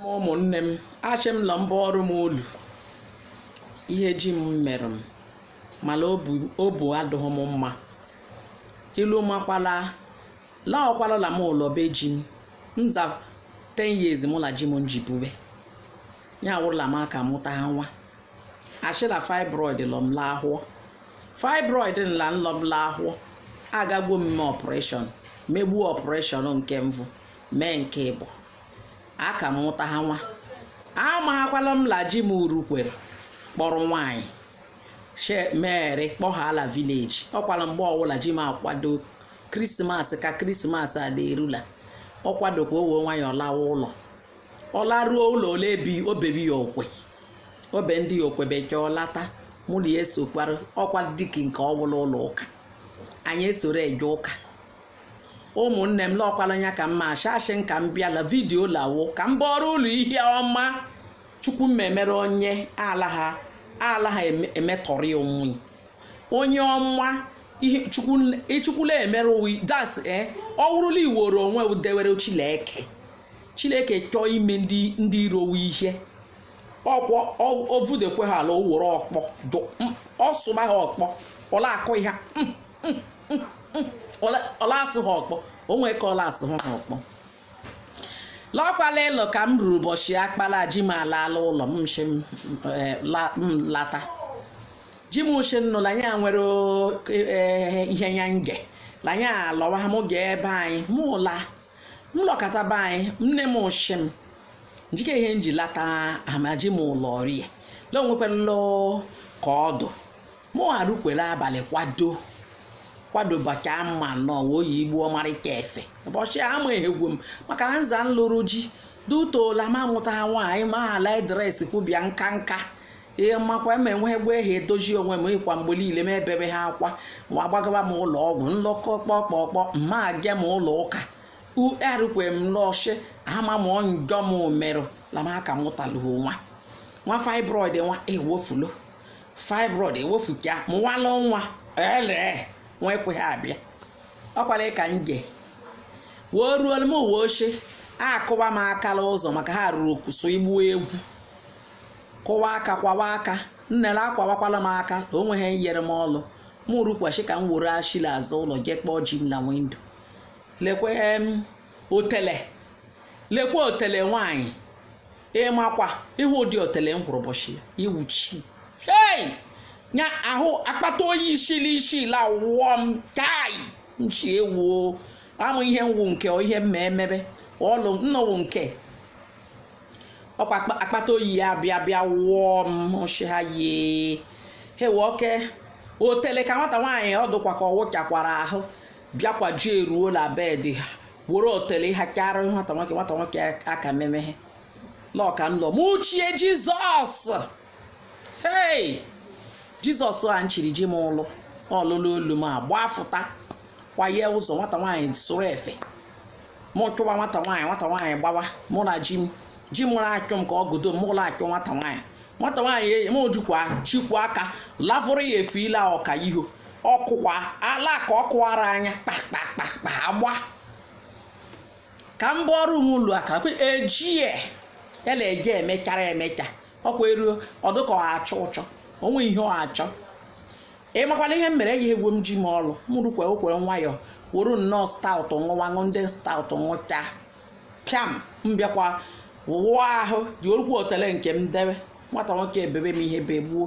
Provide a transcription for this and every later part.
ụmụnne m ashị m la m bọọrụ m ụlụ ihe ji m mere m mala obu adụghị m mma ilu makwala la ọkwala la m ụlọ be ji m nza 10 years mụ la ji m nji bube ya wụrụ la m aka mụta ha nwa ashị la fibroid lọ m la ahụ ọ fibroid nla nlọ m la ahụ ọ agagwo m mee operation megbuo operation nke mbụ mee nke ịbụ aka m mụta ha nwa amaghakwala m la ji m urukwere kpọrọ nwaanyị she mere kpọhaa la village ọkwala mgbe ọwụla ji m akwado krismas ka krismas a la-erula ọ kwadokwa onwe nwayọọ lawa ụlọ ọ laruo ụlọ ole bi obebi ya okwe obe ndị ya okwe bekee ọ lata mụ la ya esokwara ọkwa dịka nke ọwụla ụlọ ụka anyị esoro eje ụka ụmụnne m lọkwala nya ka mma ashashị m ka m bịa la video lawo ka m bọọrọ ụlụ ihe ọma chukwu meere onye ala ha ala ha eme- emetọrị onwe onye ọma ihe chukwu ichukwula emere onwe that's e ọ wụrụ la i woro onwe wụ dewere chileke chileke chọọ ime ndị ndị iro wụ ihe ọkwọ ọ- o vudekwe ha ala o were ọkpọ dụ- m, ọ sụba ha ọkpọ ọ la-akụ ha mm. ọ la-asụ ha ọkpọ o nwee ka ọ la-asụ ha ọkpọ lọkwala ịlụ ka m ruru ụbọchị akpala ji m alaala ụlọ m nshi m eh, la- m lata ji m uche nnụla ya nwere o- eh, ihe ya nge la ya alọwa m ga ebe anyị m ụla m lọkata be anyị nne m ụshị m njike ihe m ji lata amaji m ụlọ rie la onwekwala ka ọ dụ Mụ arukwere abalị kwado kwado bachaa mma nnọọ wee oyi igbu ọmarịcha efe ụbọchị a ama ehegwu m maka na nza m lụrụ ji dutola ma mụta ha nwaanyị ma ala dress kwubịa nka nka ihe mmakwa ma enweghị gwa ehi edozi onwe m ịkwa mgbe niile m ebebe ha akwa ma agbagaba m ụlọ ọgwụ nlọkọ kpọkpọkpọ mma je m ụlọ ụka erukwe m n'ọchị ama m njọ m merụ la m aka mụtalụ nwa nwa fibroid nwa ewofulo fibroid ewefuka mụwala nwa ele nwa ekweghị abịa ọkwala ka nje wee ruo m uwe ochie akụwa m aka la ụzọ maka ha ruru kwụsụ igbu egwu kụwa aka kụwa aka nnele akụwakwala m aka la o nweghị nyere m ọlụ m rukwachi ka m were shi la azụ ụlọ jee kpọọ ji m la window lekwe otele lekwe otele nwanyị ị makwa ihe ụdị otele m hụrụ ụbọchị ya iwuchi hei nya ahụ akpata oyi isili isi la wụọ m kai nchi ewuo amụ ihe m wụ nke ọ ihe mma emebe ọlụ nnọwụ nke ọkwa akpa- akpata oyi ya bịa bịa wụọ m ọchị ha yie hewe oke otele ka nwata nwaanyị ọ dụkwa ka ọ wụchakwara ahụ bịakwa ji eruo la bed ha were otele ha kara nwata nwoke nwata nwoke aka memehe n'ọka nlọ m chie jizọs hei jizọs a nchiri ji m ụlụ ọlụlụ olu m agbafụta kwaye ụzọ nwata nwaanyị sụrụ efe mụ chụwa nwata nwaanyị nwata nwaanyị gbawa mụ na ji m ji mụrụ achụ m ka ọ godo m ụlọ achụ nwata nwaanyị nwata nwaanyị m jikwa chikwa aka lavụrụ ya efe ile ọka iho ọkụkwa ala ka ọ kụwara anya kpakpakpakpa agba ka m bụọ ọrụ ụmụ ụlọ akara kwe ejie ya na-eje emechara emecha ọkwa eruo ọ dụ ka ọ achọ ụchọ o nwe ihe ọ achọ ị makwana ihe m mere eji egwu m ji m ọrụ m rukwe okwere nwayọọ were nnọọ stout ṅụwa ṅụ ndị stout ṅụcha pịam m bịakwa wụọ ahụ ji orukwu otele nke m debe nwata nwoke ebebe m ihe begbuo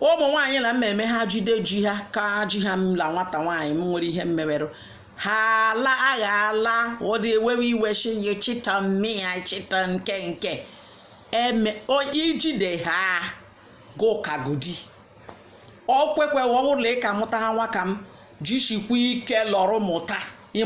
ụmụ nwaanyị la mmemme ha jide ji ha ka ji ha m la nwata nwaanyị m nwere ihe mmemerụ ha ala agha ala ụdị ewewe iwe shi ya chita mmịa chita nke nke eme ijide ha gụkagodi ọ kwekwe ọ wụrụ la ị ka mụta ha nwa ka m jishikwa ike lọrọ mụta